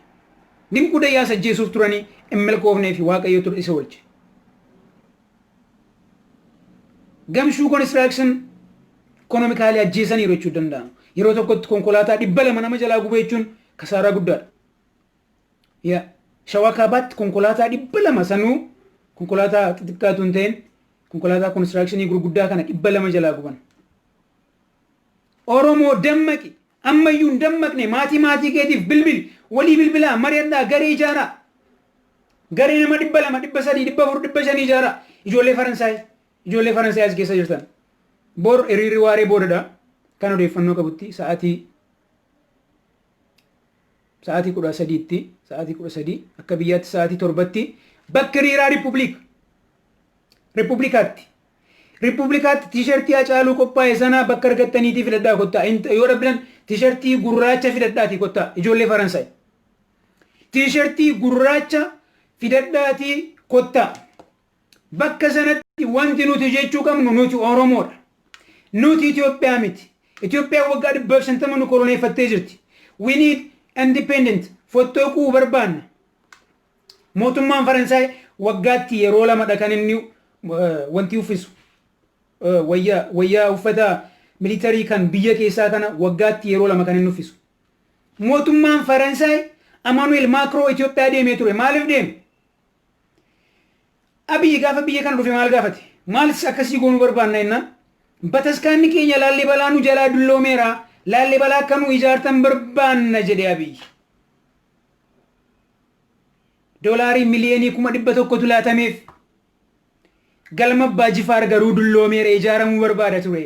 Dinquu dayyaas ajjeesuuf turanii hin milkoofnee fi waaqayyo ture isa oolche. Gamshuu konistiraaksin ikonomikaalii ajjeesaniiru jechuu danda'ama. Yeroo tokkotti konkolaataa dhibba lama nama jalaa gubee jechuun kasaaraa guddaadha. Yaa shawaa kaabaatti konkolaataa dhibba lama sanuu konkolaataa xixiqqaatu hin ta'in konkolaataa konistiraakshanii gurguddaa kana dhibba lama jalaa guban. Oromoo dammaqi ammayyuu hin dammaqne maatii maatii keetiif bilbili walii bilbilaa mari'adhaa garee ijaaraa. Garee nama dhibba lama dhibba sadii dhibba afur dhibba shanii ijaaraa ijoollee Faransaay ijoollee Faransaay as keessa jirtan. Bor hiriirri waaree boodadha kan odeeffannoo qabutti sa'aatii sa'aatii kudha sadiitti sa'aatii kudha sadii akka biyyaatti sa'aatii torbatti bakka hiriiraa riippubliika riippubliikaatti riippubliikaatti tiishartii hacaaluu qophaa'e sanaa bakka argattaniitii filadhaa kottaa yoo dhabdan tiishartii gurraacha fidadhaatii kottaa ijoollee faransaay tiishartii gurraacha fidadhaatii kottaa. Bakka sanatti wanti nuti jechuu qabnu nuti Oromoodha. Nuti Itoophiyaa miti. Itoophiyaan waggaa 150 nu koloneeffattee jirti. We need independent fottoquu barbaanna. Mootummaan Faransaay waggaatti yeroo lamadha kan inni wanti uffisu. Wayyaa wayyaa uffata militarii kan biyya keessaa kana waggaatti yeroo lama kan inni uffisu. Mootummaan Faransaay Amanuel Maakiroo Itoophiyaa deemee ture. Maaliif deeme? Abiyyi gaafa biyya kana dhufe maal gaafate? Maalis akkasii goonuu barbaanna jennaan? Bataskaanni keenya Laallibalaa nu jalaa dulloomeera, Laallibalaa akka nuu ijaartan barbaanna jedhe Abiyyi. Doolaarii miliyoonii kuma dhibba tokkotu laatameef. Galma Abbaa Jifaar garuu dulloomeera ijaaramuu barbaada ture.